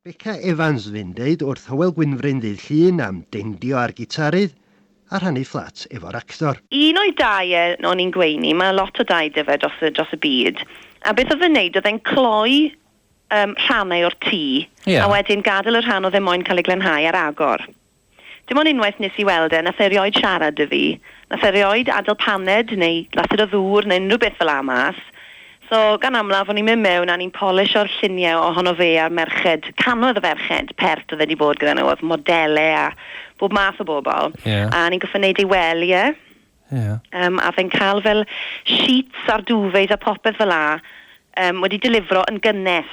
Beca Evans fu'n deud wrth Hywel Gwynfryn ddydd Llun am deindio ar gitarydd a rhannu fflat efo'r actor. Un o'i dai e, o'n i'n gweini, mae lot o dai 'da fe dros y dros y byd, a beth oedd e'n neud oedd e'n cloi yym rhannau o'r tŷ... Ie. ...a wedyn gadael y rhan oedd e moyn cael ei glanhau ar agor. Dim ond unwaith nes i weld e, nath e rioed siarad 'da fi, nath e rioed adel paned neu glasur o ddŵr neu unrhyw beth fel 'a mas. So, gan amlaf, o'n i'n mynd mewn a o'n i'n polisho'r llunie ohono fe a'r merched, cannoedd o ferched pert o'dd e 'di bod gyda nhw, o'dd modele a bob math o bobl. Ie. A o'n i'n gorffod neud ei wely e. Ie. Yym, a o'dd e'n ca'l fel sheets a'r duvets a popeth fel 'a, yym, wedi delifro yn gynnes.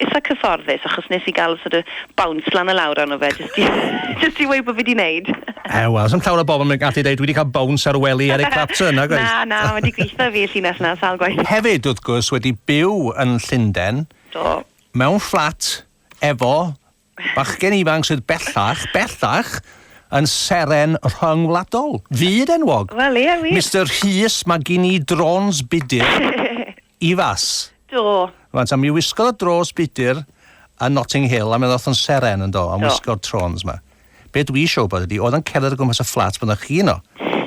itha cyfforddus achos nes i gael sort of bounce lan a lawr arno fe jyst i jyst i weud bo fi 'di neud. E, wel, sdim llawer o bobl yn gallu deud dwi 'di cael bounce ar wely Eric Clapton, nag oes? Na, na, mae 'di gwitho i fi y llinell 'na sawl gwaith. Hefyd, wrth gwrs, wedi byw yn Llunden. Do. Mewn fflat efo Bachgen ifanc sydd bellach, bellach, yn seren rhyngwladol, fyd enwog. Wel, ie, wir. Mister Rhys, mae gen i drôns budur i fas. Do. Rwan, ta, mi wisgodd y drôns budur yn Notting Hill, a mi oedd yn seren, yn do, am wisgo'r trôns yma. Be dwi isio wybod ydi, oedd o'n cerdded o gwmpas y fflat pan oeddech chi yno,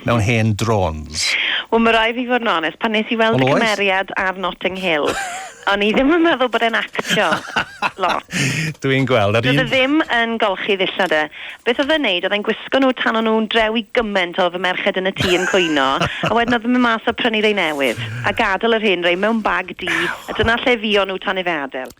mewn hen drôns? Wel, ma' raid fi fod yn onest, pan nes i weld y cymeriad ar Notting Hill, o'n i ddim yn meddwl bod e'n actio lot. Dwi'n gweld, yr un-... Doedd e ddim yn golchi ddillad e. Beth oedd e'n neud, oedd e'n gwisgo nhw tan o'n nhw'n drew i gyment o fy merched yn y tŷ yn cwyno, a wedyn oedd e'n mynd mas a prynu rei newydd, a gadel yr hen rei mewn bag du, a dyna lle fuon nhw tan i fe adael.